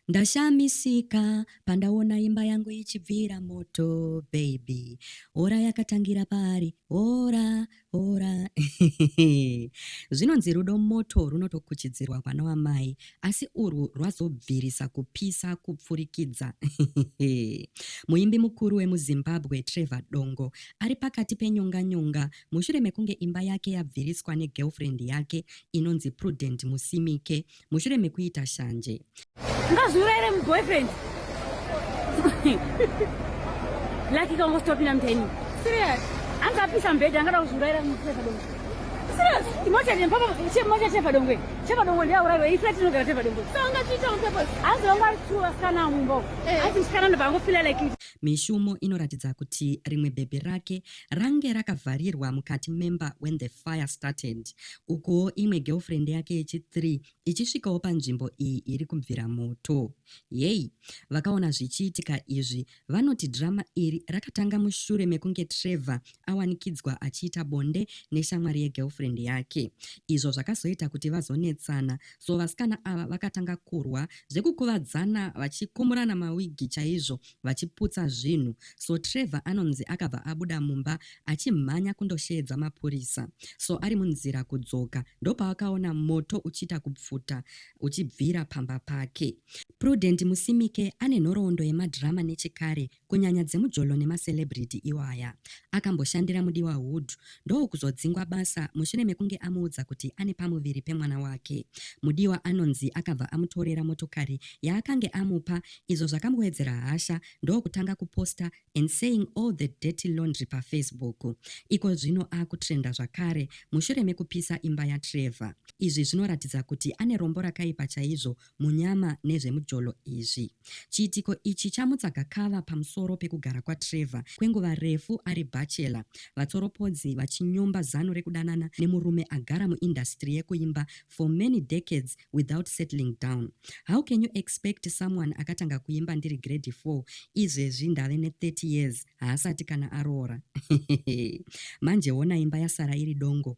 Ndashamisika pandaona imba yangu ichibvira moto baby hora yakatangira paari hora hora zvinonzi rudo moto runotokuchidzirwa kwana wamai asi urwu rwazobvirisa kupisa kupfurikidza muimbi mukuru wemuzimbabwe trevor dongo ari pakati penyonga nyonga mushure mekunge imba yake yabviriswa negirlfriend yake inonzi prudent musimike mushure mekuita shanje ngazviurayire muboyfriend laki kangostopinda muteni serious angapisa mbedha angada kuzviurayira mupadongo serious imota nepapa chemota chepadongo chepadongo ndiyauraiwa ifla tinogara chepadongo hanzi vanga vari two vasikana mumba ati eh. musikana ndobva angofila like mishumo inoratidza kuti rimwe bhebhi rake Range rakavharirwa mukati memba when the fire started. Ukuwo imwe girlfriend yake yechi three ichisvikawo panzvimbo iyi iri kubvira moto. Yey, vakaona zvichiitika izvi vanoti drama iri rakatanga mushure mekunge Trevor awanikidzwa achiita bonde neshamwari yegirlfriend yake. Izvo zvakazoita kuti vazonetsana so vasikana ava vakatanga kurwa zvekukuvadzana vachikumurana mawigi chaizvo vachiputsa zvinhu so Trevor anonzi akabva abuda mumba achimhanya kundosheedza mapurisa so ari munzira kudzoka ndopaakaona moto uchiita kupfuta uchibvira pamba pake. Prudent Musimike ane nhoroondo yemadhirama nechekare kunyanya dzemujolo nemacelebrity iwaya. Akamboshandira Mudiwa Hood ndokuzodzingwa basa mushure mekunge amuudza kuti ane pamuviri pemwana wake. Mudiwa anonzi akabva amutorera motokari yaakange amupa izvo zvakamboedzera hasha ndokutanga kuposta and saying all the dirty laundry pafacebook. Iko zvino akutrenda zvakare mushure mekupisa imba yaTrevor. Izvi zvinoratidza kuti ane rombo rakaipa chaizvo munyama nezvemujolo izvi. Chiitiko ichi chamutsa gakava pamusoro pekugara kwaTrevor kwenguva refu ari bachelor, vatsoropodzi vachinyomba zano rekudanana nemurume agara muindasitiri yekuimba for many decades without settling down. How can you expect someone akatanga kuimba ndiri grade four izvezvi ndave ne 30 years haasati kana aroora? Manje hona imba yasara iri dongo